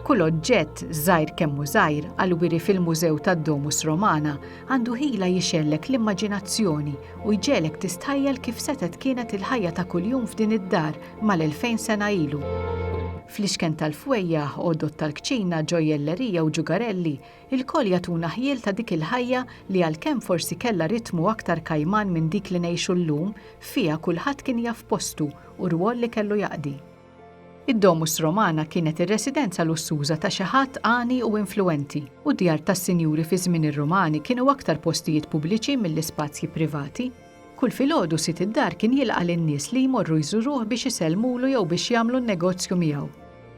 Kull oġġett żgħir kemm hu żgħir għal wiri fil-Mużew tad-Domus Romana għandu ħila jixellek l-immaġinazzjoni u jġelek tistħajjel kif setet kienet il-ħajja ta' kuljum f'din id-dar mal-2000 sena ilu. Fl-ixken tal-fwejjaħ, għodod tal-kċina, ġojjellerija u ġugarelli, Ilkoll jagħtuna ħjiel ta' dik il-ħajja li għalkemm forsi kellha ritmu aktar kajman minn dik li ngħixu llum, fiha kulħadd kien jaf postu u rwol li kellu jaqdi. Id-Domus Romana kienet ir-residenza lussuża ta' xi ħadd għani u influwenti, u d-djar tas-sinjuri fi żmien ir-Rumani kienu aktar postijiet pubbliċi milli spazji privati. Kull filgħodu sid id-dar kien jilqa' lin-nies li jmorru jżuruh biex isellmulu jew biex jagħmlu n-negozju miegħu.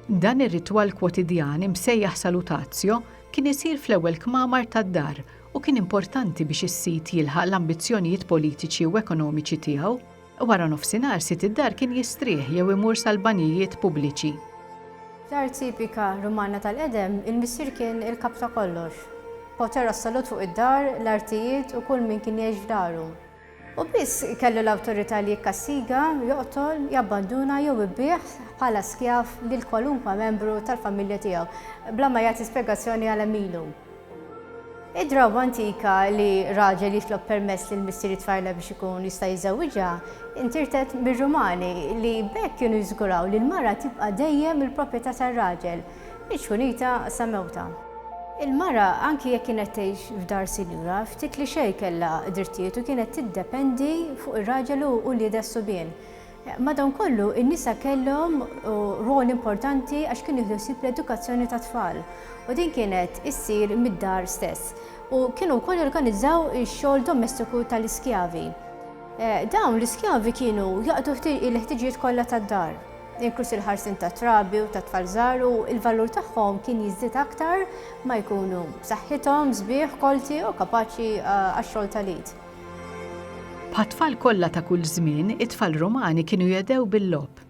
Dan ir-ritwal kwotidjan imsejjaħ salutazio kien isir fl-ewwel kmamar tad-dar u kien importanti biex is-sid jilħaq l-ambizzjonijiet politiċi u ekonomiċi tiegħu. Wara nofsinhar sid id-dar kien jistrieħ jew imur sal-banjijiet pubbliċi. F'dar tipika Rumana tal-qedem, il-missier kien il-kap ta' kollox. Poter assolut fuq id-dar, l-artijiet u kull min kien jgħix f'daru. Hu biss kellu l-awtorità li jikkastiga, joqtol, jabbanduna jew ibigħ bħala skjav lil kwalunkwe membru tal-familja tiegħu, bla ma jagħti spjegazzjoni għal hemm ilu. Id-drawwa antika li raġel jitlob permess lil missier it-tfajla biex ikun jista' jiżżewwiġha ntirtet mir-Rumani, li b'hekk kienu jiżguraw li l-mara tibqa' dejjem il-proprjetà tar-raġel. Mhix ħunita sa mewtha. Il-mara anki jekk kienet tgħix f'dar sinjura, ftit li xejn kellha drittijiet u kienet tiddependi fuq ir-raġel u wliedha s-subien. Madankollu, in-nisa kellhom rwol importanti għax kienu jieħdu ħsieb l-edukazzjoni tat-tfal u din kienet issir mid-dar stess u kienu wkoll jorganizzaw ix-xogħol domestiku tal-iskjavi. Dawn l-iskjavi kienu jaqdu il-ħtiġijiet kollha tad-dar. inkluż il-ħarsien tat-trabi u tat-tfal żgħar u l-valur tagħhom kien jiżdied aktar ma jkunu b'saħħithom, sbieħ, kolti u kapaċi għax-xogħol tal-id. Bħat-tfal kollha ta' kull żmien, it-tfal Rumani kienu jedhew bil-logħob.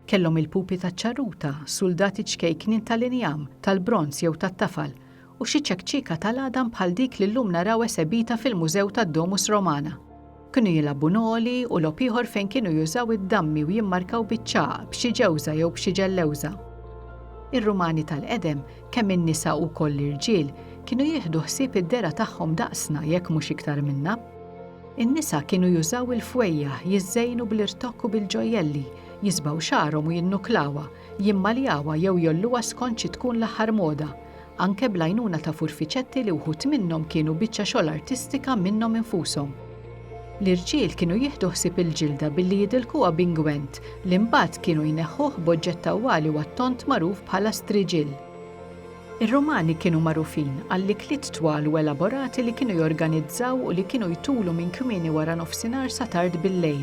Kellhom il-pupi taċ-ċarruta, suldati ċkejknin tal-injam, tal-bronż jew tat-tafal, u xi ċekċieka tal-għadam bħal dik li llum naraw esebita fil-Mużew tad-Domus Romana. Kienu jilagħbu noli u logħob ieħor fejn kienu jużaw id-dammi u jimmarkaw biċ-ċagħaq b'xi ġewża jew b'xi ġellewża. Ir-Rumani tal-qedem, kemm in-nisa u wkoll l-irġiel, kienu jieħdu ħsieb id-dehra tagħhom daqsna jekk mhux iktar minna. In-nisa kienu jużaw il-fwejjaħ, jiżżejnu bl-irtokk u bil-ġojjelli, jisbgħu xagħarhom u jinnuklawha, jimmaljawha jew jgħolluha skont xi tkun l-aħħar moda. anke bl-għajnuna ta' furfiċetti li wħud minnhom kienu biċċa xogħol artistika minnhom infushom. L-irġiel kienu jieħdu ħsieb il-ġilda billi jidilkuha b'ingwent li mbagħad kienu jneħħuh b'oġġett tawwali u għat-tond magħruf bħala striġill. Ir-Rumani kienu magħrufin għall-ikliet twal u elaborati li kienu jorganizzaw u li kienu jtulu minn kmieni wara nofsinhar sa tard bil-lejl.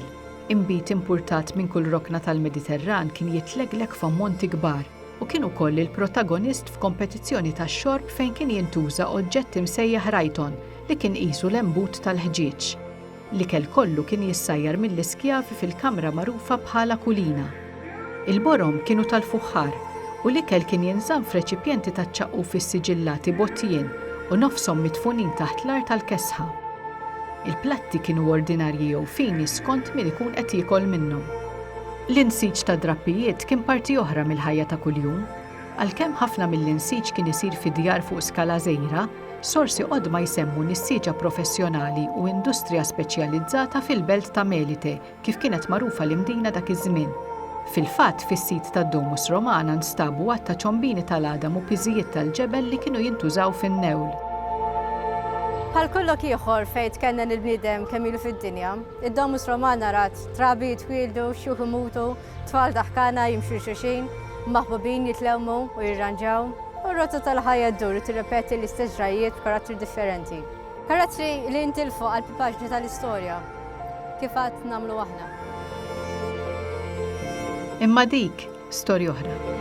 Inbid impurtat minn kull rokna tal-Mediterran kien jitlegleg f'ammonti kbar. u kien ukoll il-protagonist f'kompetizzjoni ta' xorb fejn kien jintuża oġġett imsejjaħ rajton li kien qisu l-embut tal-ħġieġ. L-ikel kollu kien jissajjar mill-iskjavi fil-kamra magħrufa bħala kulina. Il-borom kienu tal-fuħħar u l-ikel kien jinżamm f'reċipjenti taċ-ċaqquf issiġillati b'għotjien u nofshom midfunin taħt l-art għall-kesħa. Il-platti kienu ordinarji jew fini skont min ikun qed jiekol minnhom. L-insiġ tad-drappijiet kien parti oħra mill-ħajja ta' kuljum. Għalkemm ħafna mill-insiġ kien isir fi djar fuq skala żgħira, sorsi qodma jsemmu nisġiġa professjonali u industrija speċjalizzata fil-belt ta' Melite, kif kienet magħrufa l-Imdina dak iż-żmien. Fil-fatt, fis-sit tad-Domus Romana nstabu għadd ta' ċombini tal-għadam u piżijiet tal-ġebel li kienu jintużaw fin-newl. Bħal kull lok ieħor fejn tkennen il-bniedem kemm ilu fid-dinja, id-Domus Romana rat Trabi jitwieldu, xjuħ imutu, tfal daħkana jimxu xulxin, maħbubin jitlewmu u jirranġaw, u r-rotta tal-ħajja ddur u tirrepeti l-istess ġrajjiet b'karattri differenti. Karattri li jintilfu għal paġni tal-istorja, kif għad namlu aħna. Imma dik storja oħra.